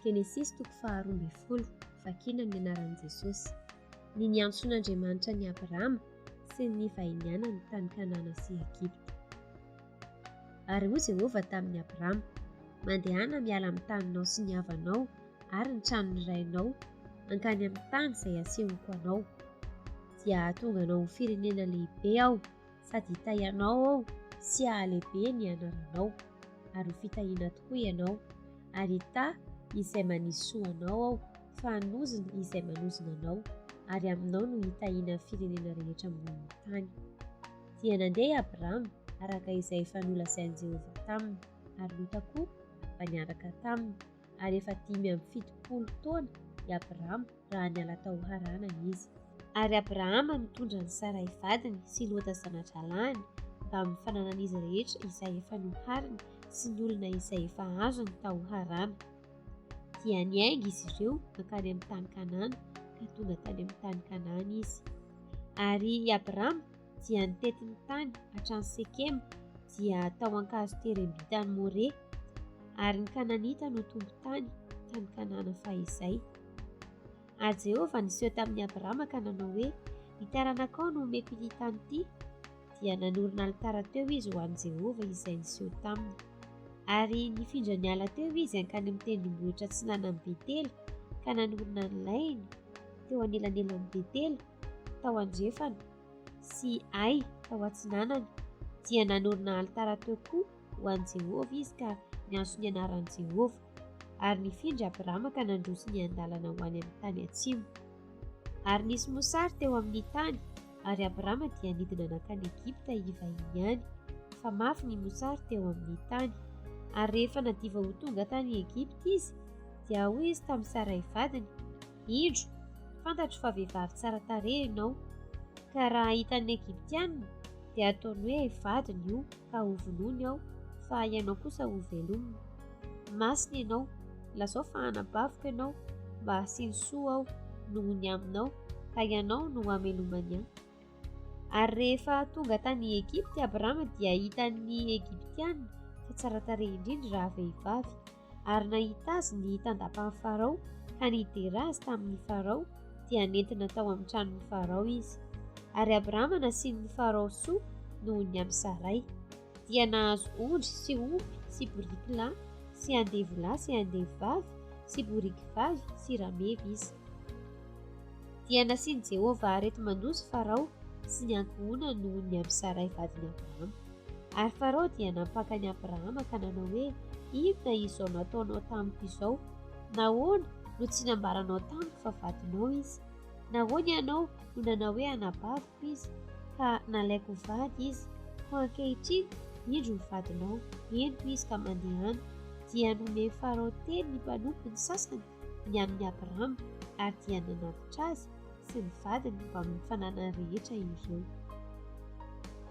Genesisy toko faharoa ambin'ny folo, vakina ny anaran'i Jesosy. Ny niantsoan'Andriamanitra an'i Abrahama sy ny nivahinianany tany Kanana sy Egypta. Ary hoy Jehovah tamin'i Abrahama, Mandehana miala amin'ny taninao sy ny havanao ary ny tranon'ny rainao hankany amin'ny tany izay asehoko anao, dia hahatonga anao ho firenena lehibe aho, sady hitahy anao aho sy hahalehibe ny anaranao, ary ho fitahiana tokoa ianao, ary hitahy izay manisy soa anao aho, fa hanozona izay manozona anao, ary aminao no hitahiana ny firenena rehetra ambony ny tany. Dia nandeha i Abrama araka izay efa nolazain'i Jehovah taminy, ary Lota koa afa-niaraka taminy. ary efa dimy amby fitopolo taona i Abrahama raha niala tao Harana izy. Ary Abrahama nitondra an'i Saray vadiny sy Lota zana-drahalahiny mbamin'ny fananan'izy rehetra izay efa nohariny sy ny olona izay efa azony tao Harana. Dia niainga izy ireo mankany amin'ny tany Kanana ka tonga tany amin'ny tany Kanana izy. Ary i Abrahama dia nitety ny tany hatrany Sekema dia tao ankazo terem-bitany More, ary ny Kananita no tompon-tany tany Kanana fahizay. Ary Jehovah niseho tamin'i Abrahama ka nanao hoe, Ny taranakao no omeko ity tany ity. Dia nanorina alitara teo izy ho an'i Jehovah izay niseho taminy. Ary nifindra niala teo izy hankany amin'ny tendrombohitra atsinanan'i Betela ka nanorina ny lainy teo anelanelan'i Betela tao andrefana sy Ay tao atsinanana, dia nanorina alitara teo koa ho an'i Jehovah izy ka niantso ny anaran'i Jehovah, ary nifindra Abrama ka nandroso niandalana ho any amin'ny tany atsimo. Ary nisy mosary teo amin'ny tany, ary Abrama dia nidina nankany Egypta hivahiny any, fa mafy ny mosary teo amin'ny tany. Ary rehefa nadiva ho tonga tany Egypta izy, dia hoy izy tamin'ny Saray vadiny, Indro, fantatro fa vehivavy tsara tarehy ianao, ka raha hitan'ny Egyptianina, dia hataony hoe vadiny io ka hovonoiny aho, fa ianao kosa hovelomina. Masina ianao, lazao fa hanabaviko ianao, mba hasiany soa aho noho ny aminao, ka ianao no hamelomany ahy. Ary rehefa tonga tany Egypta i Abrama, dia hitan'ny Egyptianina fa tsara tarehy indrindra raha vehivavy, ary nahita azy ny tandapan'i Farao ka nidera azy tamin'i Farao dia nentina tao amin'ny tranon'i Farao izy. Ary Abrahama nasian'i Farao soa noho ny an'i Saray. Dia nahazo ondry sy omby sy boriky lahy sy andevo lahy sy andevo vavy sy boriky vavy sy rameva izy. Dia nasian'i Jehovah areti-mandosy Farao sy ny ankohonany noho ny amin'i Saray vadin'i Abrahama. Ary Farao dia nampaka an'i Abrahama ka nanao hoe, Inona izao nataonao tamiko izao? Nahoana no tsy nambaranao tamiko fa vadinao izy? Nahoana ianao no nanao hoe anabaviko izy, ka nalaiko ho vady izy? Koa ankehitriny, indro ny vadinao, ento izy ka mandehana. Dia nomen'i Farao teny ny mpanompony sasany ny amin'i Abrahama, ary dia nanatitra azy sy ny vadiny mbamin'ny fananany rehetra ireo.